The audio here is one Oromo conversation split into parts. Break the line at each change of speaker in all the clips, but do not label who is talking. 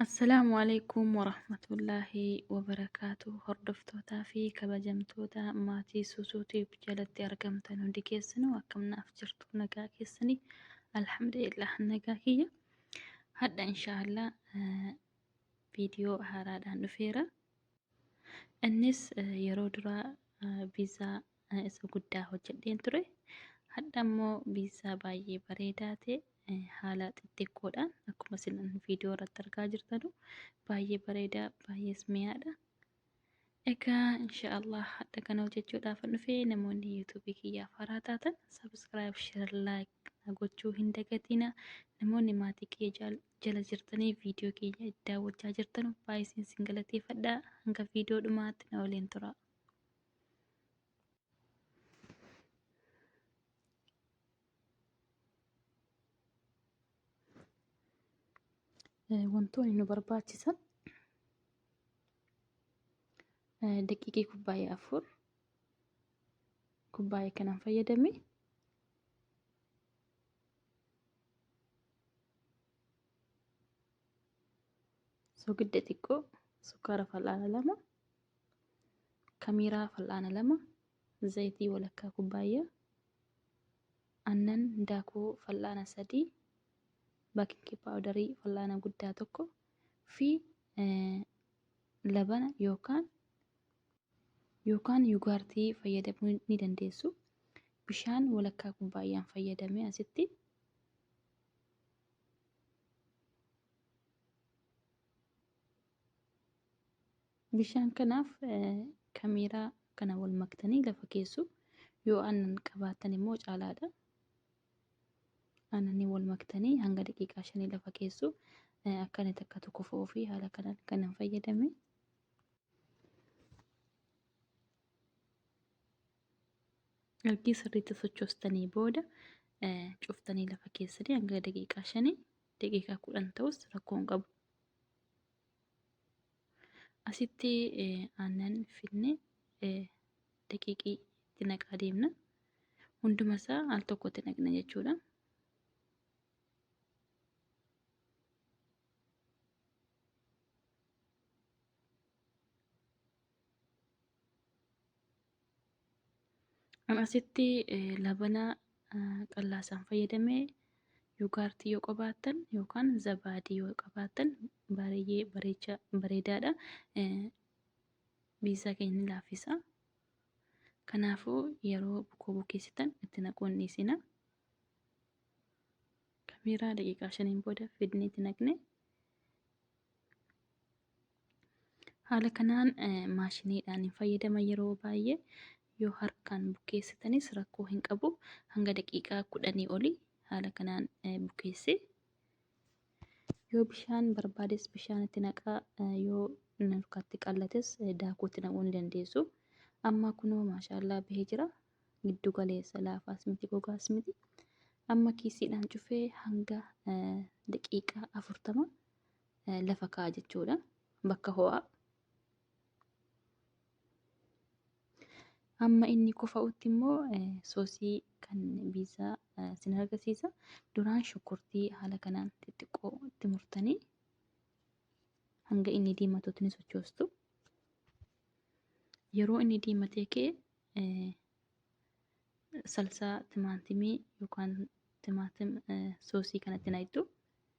Assalaamu alaikum warahmatullaahi wabarakaatu hordoftootaa fi kabajamtoota maatii Suusuu Tube jalatti argamtan hundi keessanuu akkam naaf jirtu nagaa keessanii alhamdulillah nagaa kiyya hadha inshaallah viidiyoo haaraadhaan dhufeera innis yeroo duraa viizaa eh, isa guddaa hojjedheen ture. Hadha immoo biizaa baay'ee bareedaa ta'e eh, haala xixxiqqoodhaan akkuma isin viidiyoo irratti argaa jirtanu baay'ee bareedaa baay'ees mi'aadha. Egaa inshaallah hadha kana hojjechuudhaaf hin dhufe namoonni yuutuubii kiyyaaf haaraa taatan sabiskiraayib sheer laayik na gochuu hin dagatina. Namoonni maatii kiyya jaal- jala jirtanii viidiyoo keenya daawwachaa jirtanu baay'ee isin galateeffadha. Hanga viidiyoo dhumaatti na waliin tura. wantoonni nu barbaachisan daqiiqii kubbaayee afur kubbaayee kanaan fayyadame soogidda xiqqoo sukkaara fal'aana lama Kamiiraa fal'aana 2, zayitii walakkaa kubbaayyaa, aannan daakuu fal'aana 3, baking powder fal'aana guddaa 1 fi labana yookaan yookaan yugaartii fayyadamuu ni dandeessu. Bishaan walakkaa kubbaayyaan fayyadamee asitti Bishaan kanaaf kamiiraa kana wal maktanii lafa keessu. Yoo aannan qabaattan immoo caalaadha. Aannanii wal maktanii hanga daqiiqaa shanii lafa keessu. Akka inni takka tokko fo'uu fi haala kanaan kanan fayyadame. Ergii sirriitti sochoostanii booda cuftanii lafa keessanii hanga daqiiqaa shanii daqiiqaa kudhan ta'us rakkoo hin qabu. Asitti aannan finne daqiiqii itti naqaa deemna. Hunduma isaa al tokkotti naqna jechuudha. An asitti eh, labana ah, qallaasaan fayyadame yuugaartii yoo qabaattan yookaan zabaadii yoo qabaattan baay'ee bareecha bareedaadha. Eh, Biizaa keenya ni laaffisa. Kanaafuu yeroo bukoo bukeessitan itti naquu hin dhiisina. Kamiiraa daqiiqaa shaniin booda fidnee itti naqne. Haala kanaan maashiniidhaan hin fayyadama yeroo baay'ee yoo harkaan bukeessitanis rakkoo hin qabu hanga daqiiqaa kudhanii oli haala kanaan bukeesse yoo bishaan barbaades bishaan itti naqaa yoo harkatti qallates daakuutti naquu ni dandeessu amma kunoo maashaallaa bahee jira giddu galeessa laafaas miti gogaas miti amma kiisiidhaan cufee hanga daqiiqaa afurtama lafa kaa'a jechuudha. Bakka ho'aa. Amma inni kofa'utti immoo soosii kan biizaa sin argisiisa. Duraan shunkurtii haala kanaan xixiqqoo itti murtanii hanga inni diimatutti ni sochoostu. Yeroo inni diimatee ka'e salsaa timaatimii yookaan timaatim soosii kanatti naqxu.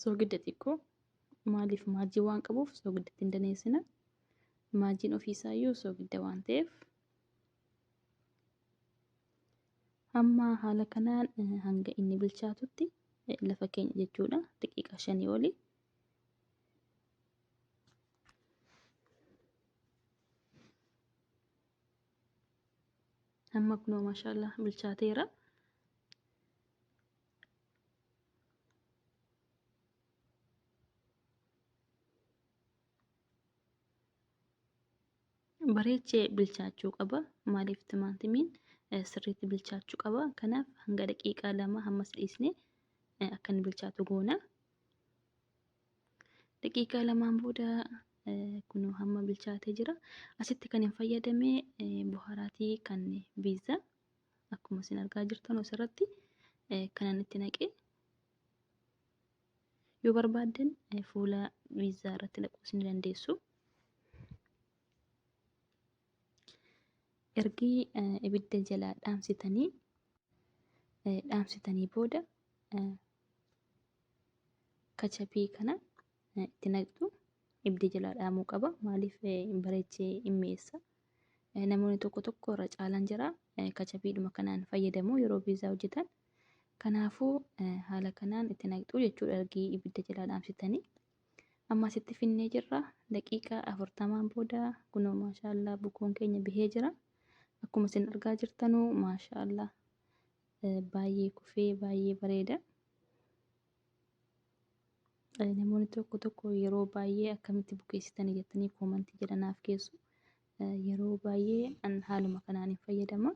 soogidda xiqqoo maaliif maajii waan qabuuf soogiddatti hin daneessina maajiin ofiisaa iyyuu soogidda waan ta'eef amma haala kanaan hanga inni bilchaatutti lafa keenya jechuudha daqiiqaa shanii oli amma kunoo maashaallah bilchaateera bareechee bilchaachuu qaba maaliif timaatimiin sirriitti bilchaachuu qaba kanaaf hanga daqiiqaa lama hammas dhiisne akka inni bilchaatu goona Daqiiqaa lamaan booda kun hamma bilchaatee jira. Asitti kan hin fayyadame buhaaraatii kan biizza akkuma isin argaa jirtan asirratti kanan itti naqee yoo barbaaddan fuula biizzaa irratti naquus ni dandeessu. Ergi ibidda jalaa dhaamsitanii dhaamsitanii booda kachapii kana itti naqxu ibdi jalaa dhaamuu qaba maaliif bareechee hin mi'eessa namoonni tokko tokko irra caalan jira kachapiidhuma kanaan fayyadamu yeroo viizaa hojjetan kanaafuu haala kanaan itti naqxu jechuudha ergii ibidda jalaa dhaamsitanii ammas itti finnee jirra daqiiqaa afurtamaan booda kunoo maashaallaa bukoon keenya bihee jira akkuma isin argaa jirtanuu maashaallaa baay'ee kufee baay'ee bareeda. Namoonni tokko tokko yeroo baay'ee akkamitti bukeessitanii jettanii koomantii jedha naaf keessu. Yeroo baay'ee an haaluma kanaan hin fayyadama.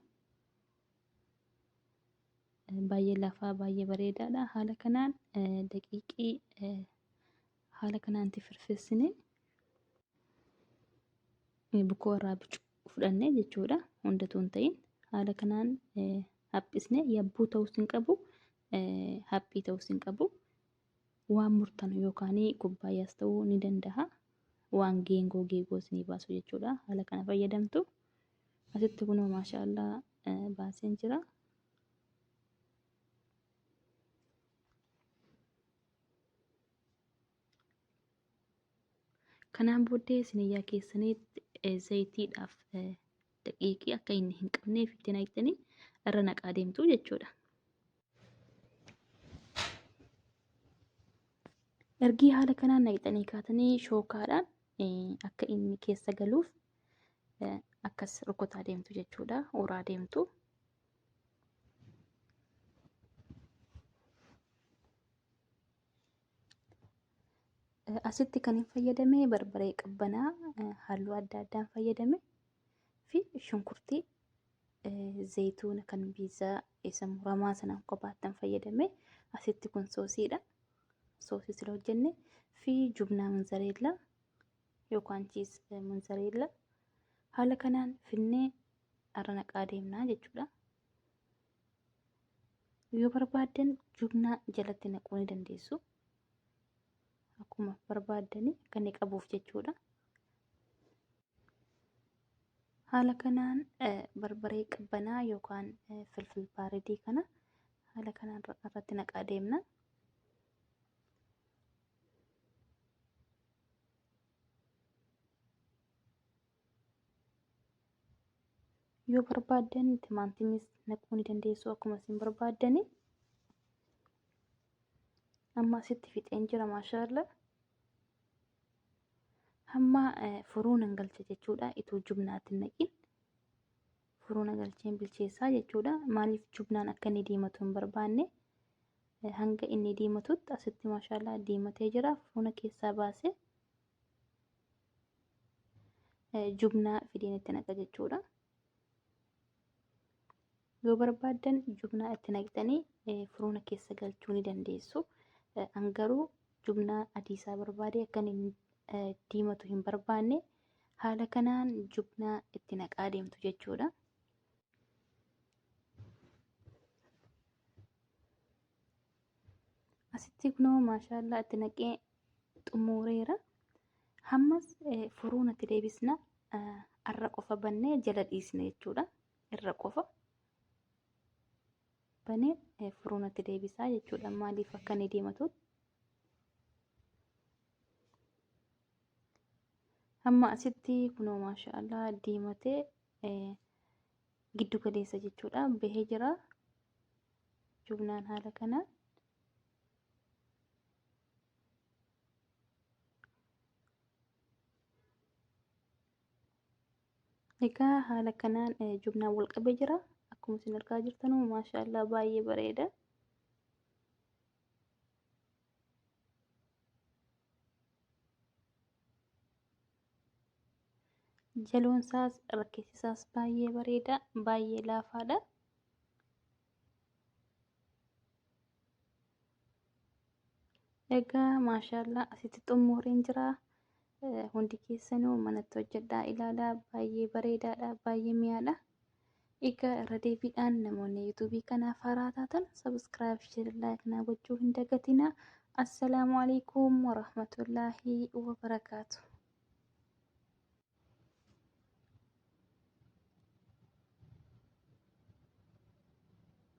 Baay'ee lafaa baay'ee bareedaadha. Haala kanaan daqiiqii haala kanaan firfirsinee bukoo irraa bicu fudhannee jechuudha hundatu hin ta'in haala kanaan haphisnee yabbuu ta'us hin qabu haphii ta'us hin qabu waan murtanu yookaan kubbaayyaas ta'uu ni danda'a waan geengoo geegoo isinii baasu jechuudha haala kana fayyadamtu asitti kunoo maashaallaa baaseen jira. Kanaan booddee siniyyaa keessaniitti eh, zayitiidhaaf eh, daqiiqii akka inni hin qabneef itti naqxanii irra naqaa deemtu jechuudha. Ergii haala kanaan naqxanii kaatanii shookaadhaan eh, akka inni keessa galuuf eh, akkas rukutaa deemtu jechuudha. Uraa deemtu. asitti kan hin fayyadame barbaree qabbanaa halluu adda addaan fayyadame fi shunkurtii zayituuna kan biizaa isa muramaa sanaan kophaattan fayyadame asitti kun soosiidha soosii sila hojjenne fi jubnaa munzareellaa yookaan chiis munzareellaa haala kanaan finnee irra naqaa deemnaa jechuudha. Yoo barbaaddan jubnaa jalatti naquu ni dandeessu. Akkuma barbaaddani akka inni qabuuf jechuudha. Haala kanaan barbaree qabbanaa yookaan filfil baaredii kana haala kanaan irratti naqaa deemna. yoo barbaaddan timaantimis naquu ni dandeessu akkuma isin barbaaddani amma asitti fixeen jira maashaalla hamma furuu nan galcha jechuudha itoo jubnaatti naqin furuu na galcheen bilcheessaa jechuudha maaliif jubnaan akka inni diimatu hin barbaanne hanga inni diimatutti asitti maashaalla diimatee jira furuuna keessaa baasee jubnaa fidiin itti naqa jechuudha. Yoo barbaaddan jubnaa itti naqxanii firoona keessa galchuu ni dandeessu. An garuu jubnaa adiisaa barbaade akka inni diimatu hin barbaanne haala kanaan jubnaa itti naqaa deemtu jechuudha. asitti kunoo maashaallaa itti naqee xumureera hammas furuun itti deebisna arra qofa bannee jala dhiisna jechuudha irra qofa banee furuun itti deebisaa jechuudha maaliif akka inni deematu amma asitti kunoo maashaallaa diimatee giddu galeessa jechuudha bahee jira jumlaan haala kanaan egaa haala kanaan eh, jumlaan wal qabee jira akkuma isin argaa jirtan maashaallah baay'ee bareeda Jaloon isaas rakkeessi isaas baay'ee bareeda, baay'ee laafaadha. Egaa maashaallah asitti xumureen jira. Hundi keessanuu manatti hojjedhaa ilaalaa baay'ee bareedaadha, baay'ee mi'aadha. Egaa irra deebiidhaan namoonni yuutuubii kanaaf haaraa taatan sabiskiraayib sheer laayik naa gochuu hin dagatinaa. Assalaamu alaikum warahmatullaahi wabarakaatu.